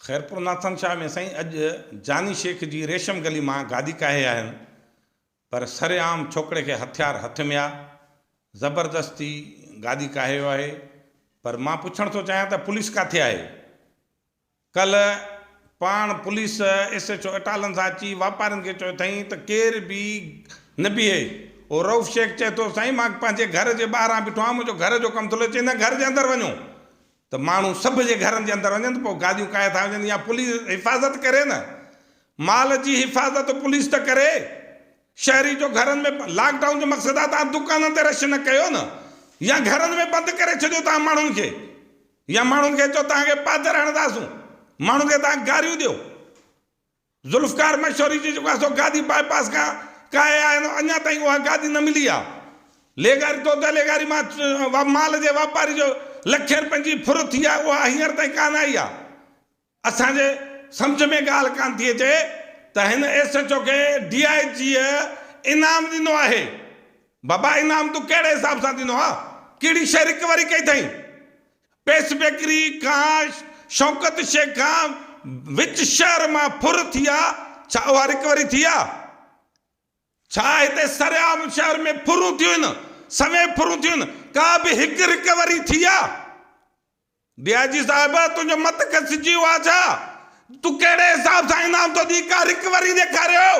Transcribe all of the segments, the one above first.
خيرپور ناٿن شاهه ۾ سائين اڄ جاني شيخ جي ريشم گلي مان گادي ڪاهي آهن پر سرعام ڇوڪري کي هٿيار هٿ ميا زبردستي گادي ڪاهي ويو آهي پر مان پڇڻ ٿو چاهيان ته پوليس ڪاٿي آهي ڪلهه پاڻ پوليس ايس ايچ او اٽالن سان اچي واپارين کي چيو اٿائين ته ڪير به نه بيهي او رئوف شيخ چئي ٿو سائين مان پنهنجي گهر جي ٻاهران بيٺو آهيان منهنجو گهر جو ڪم ٿو هلي چئي نه گهر جي اندر وڃو ته ماڻهو سڀ جي گهرن جي اندر وڃن ته پوء گاڏيون ڪاهي ٿا وڃن يا پوليس حفاظت ڪري نه مال جي حفاظت پوليس ته ڪري شهري جو گهرن ۾ لاڪ ڊائون جو مقصد آهي توهان دڪانن تي رش نه ڪيو نه يا گهرن ۾ بند ڪري ڇڏيو توهان ماڻهن کي يا ماڻهن کي چئو توهان کي پادر هڻنداسون ماڻهن کي توهان گاريون ڏيو. ذوالفقار مشوري جو جيڪو حصو گادي باء پاس کان ڪاهي آهي نو اڃا تائين اها گادي نه ملي آهي. ليگاري توته ليگاري مان مال جي واپاري جو لکين رپين جي ڦر ٿي آهي اها هينئر تائين ڪانه آئي آهي. اسان جي سمجهه ۾ ڳالهه ڪانه ٿي اچي ته هن ايس ايڇ او کي ڊي آء جيء انعام ڏنو آهي. بابا انعام تون ڪهڙي حساب سان ڏنو آهي؟ ڪهڙي شيء رڪوري ڪئي اٿئين؟ پيس بيڪري، ڪاش، شوڪت شيخ کان وچ شهر مان ڦر ٿي آ، ڇا اها رڪوري ٿي آ؟ ڇا هتي سرعام شهر ۾ ڦرون ٿيون هن؟ سوين ڦرون ٿيون هن، ڪا به هڪ رڪوري ٿي آ؟ ڊي آء جي صاحب، تنهنجو مت کسجي ويو آ ڇا؟ تون ڪهڙي حساب سان انعام ٿو ڏئين، ڪا رڪوري ڏيکاريو،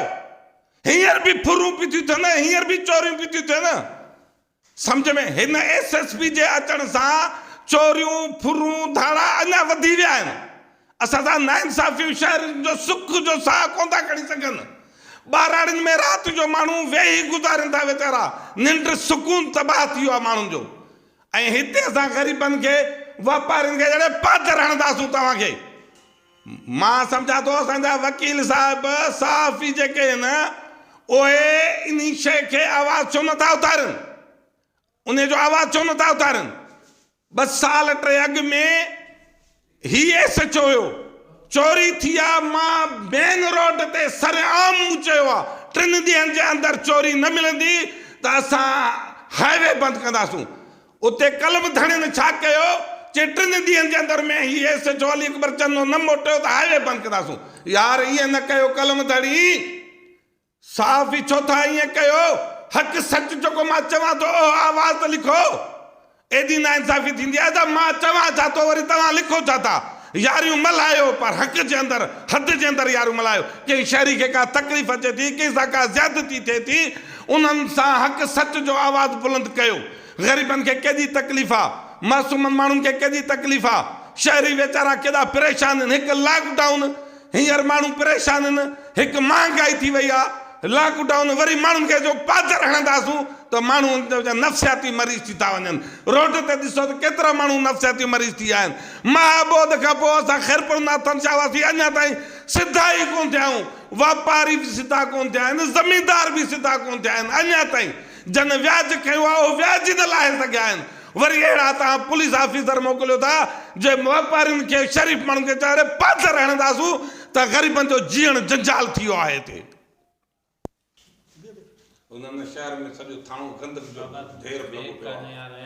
هينئر به ڦرون پيون ٿيون ٿين، هينئر به چوريون پيون ٿيون ٿين. سمجهه ۾ هن ايس ايس پي جي اچڻ سان چوريون، ڦرون، ڌاڙا اڃا وڌي ويا آهن، اسان سان ناانصافيون شهرين جو سک جو ساهه ڪونه ٿا کڻي سگهن، ٻهراڙين ۾ رات جو ماڻهو ويهي گذارين ٿا ويچارا، ننڊ سڪون تباهه ٿي ويو آهي ماڻهن جو ۽ هتي اسان غريبن کي واپارين کي جهڙي پاڌر هڻنداسون توهان کي مان سمجهان ٿو اسان جا وڪيل صاحب صحافي جيڪي آهن اهي انهي شيء کي آواز ڇو نه ٿا اٿارن انهي جو آواز ڇو نه ٿا اٿارن ٻه سال ٽي اڳ ۾ هي ايس ايڇ او هيو چوري ٿي آ مان مين روڊ تي سرعام مون چيو آ ٽن ڏينهن جي اندر چوري نه ملندي ته اسان هاء وي بند ڪنداسون اتي ڪلب ڌڻين ڇا ڪيو چي ٽن ڏينهن جي اندر ۾ هي S H O Ali Akbar Channo نه موٽيو ته هاء وي بند ڪنداسون. يار ائين نه ڪيو ڪلم ڌڻي. صحافي ڇو ٿا ائين ڪيو. حق سچ جيڪو مان چوان ٿو اهو آواز ته لکو. ايڏي ناانصافي ٿيندي آهي ته مان چوان ڇا ٿو وري توهان لکو ڇا ٿا. ياريون ملهايو پر حق جي اندر حد جي اندر ياريون ملهايو. ڪنهن شهري کي ڪا تڪليف اچي ٿي ڪنهن سان ڪا زيادتي ٿئي ٿي انهن سان حق سچ جو آواز بلند ڪيو. غريبن کي ڪيڏي تڪليف آ، معصومن ماڻهن کي ڪيڏي تڪليف آ، شهري ويچارا ڪيڏا پريشان ان، هڪ لاڪ ڊائون هينئر ماڻهو پريشان ان، هڪ مهانگائي ٿي وئي آ، لاڪ ڊائون وري ماڻهن کي جو پاڌر هڻنداسون ته ماڻهو نفسياتي مريض ٿي ٿا وڃن، روڊ تي ڏسو ته ڪيترا ماڻهو نفسياتي مريض ٿي آيا آهن، مها ٻوڏ کان پوء اسان خيرپور ناٿن شاهه واسي اڃا تائين سڌا ئي ڪونه ٿيا آهيون، واپاري به سڌا ڪونه ٿيا آهن، زميندار به سڌا ڪونه ٿيا آهن، اڃا تائين جن وياج کنيو آهي اهي وياج ئي نه لاهي سگهيا آهن وري اهڙا توهان پوليس آفيسر موڪليو ٿا جي واپارين کي شريف ماڻهن کي چاري پاٿر هڻنداسون ته غريبن جو جيئڻ جنجال ٿي ويو آهي هتي. هن شهر ۾ سڄو ٿاڻو گندڪ جو ڍير لڳو پيو آهي.